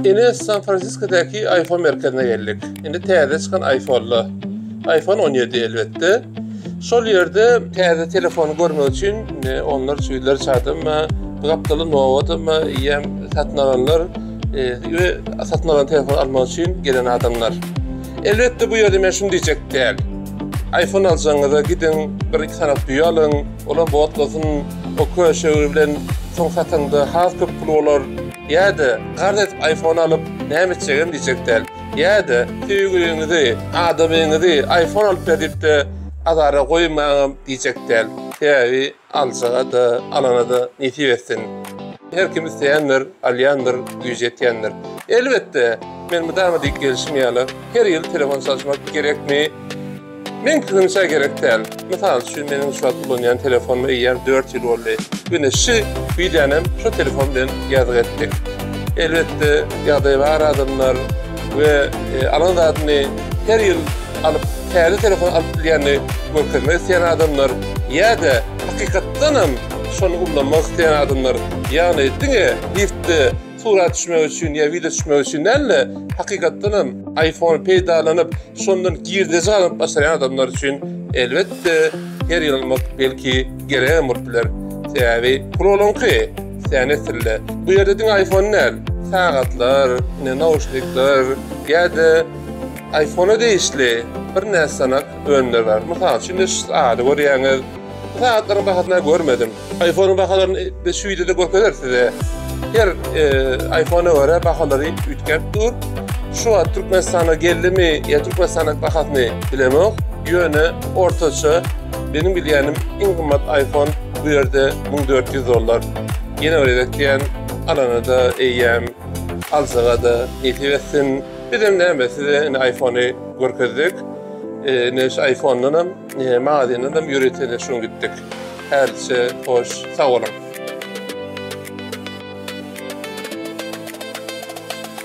Ine San Franciskodäki iPhone merkezine geldik. Indi täze çykan iPhone-la. iPhone 17 elbetde. Şol ýerde täze telefony görmek üçin onlarça ýüzlerçe adam we gapdaly nobatam ýem satyn alanlar we satyn alan telefon almak üçin gelen adamlar. Elbetde bu ýerde men şuny diýjek däl. iPhone aljagyňyza gidiň, bir iki sanap düýe alyň, olam botlasyn, o köşegi bilen soň satyňda has köp pul bolar. Ýa-da karz edip aýfon alyp näme etjegem diýjek däl. Ýa-da söýgüliňizi, adamyňyzy aýfon alyp ber diýip-de azara goýmaňam diýjek däl. Sebäbi aljaga-da, alana-da nesip etsin. Her kim isleýändir, alýandyr, güýji ýetýändir. Elbetde, men mydama diýip gelşim ýaly, her ýyl telefon çalyşmak gerekmi? Meňkiňçe gerek däl. Mysal üçin meniň şu wagt ulanýan telefonuma eýýäm dört ýyl boldy. Ine şu wideonem şu telefon bilen ýazgy etdik. Elbetde ýagdaýy bar adamlar we alan zadyny her ýyl alyp täze telefon alyp bilýänini görkezmek isleýän adamlar ýa-da hakykatdanam şony ullanmak isleýän adamlar ýagny diňe liftde surat düşmek üçin ýa wideo düşmek üçin däl-de, hakykatdan hem iPhone peýdalanyp, şondan girdeji gazanyp başarýan adamlar üçin elbetde her ýyl almak belki geregem bolup biler. Sebäbi pul olaňky, sen nesille. Bu ýerde diňe iPhone däl, sagatlar, ine nauşnikler ýa-da iPhone-a degişli birnäçe sanak önümler bar. Mysal üçin, indi şu sagady görýäňiz. Bu sagatlaryň bahasyny görmedim. iPhone-yň bahalaryny biz şu wideoda görkezeris size. Her e, iPhone-a görä bahalary üýtgäp dur. Şu wagt Türkmenistana geldimi, ýa Türkmenistanyň bahasyny bilemok. Ýöne ortaça benim bilýänim iň gymmat iPhone bu ýerde 1400 dollar. Ýene bir gezek diýen alana-da eýýäm aljaga-da nesip etsin. Bizem näme size indi iPhone-y görkezdik. E, şu iPhone-dan hem, e, magazindan hem ýörite şu gitdik. Hälçe hoş, sag boluň!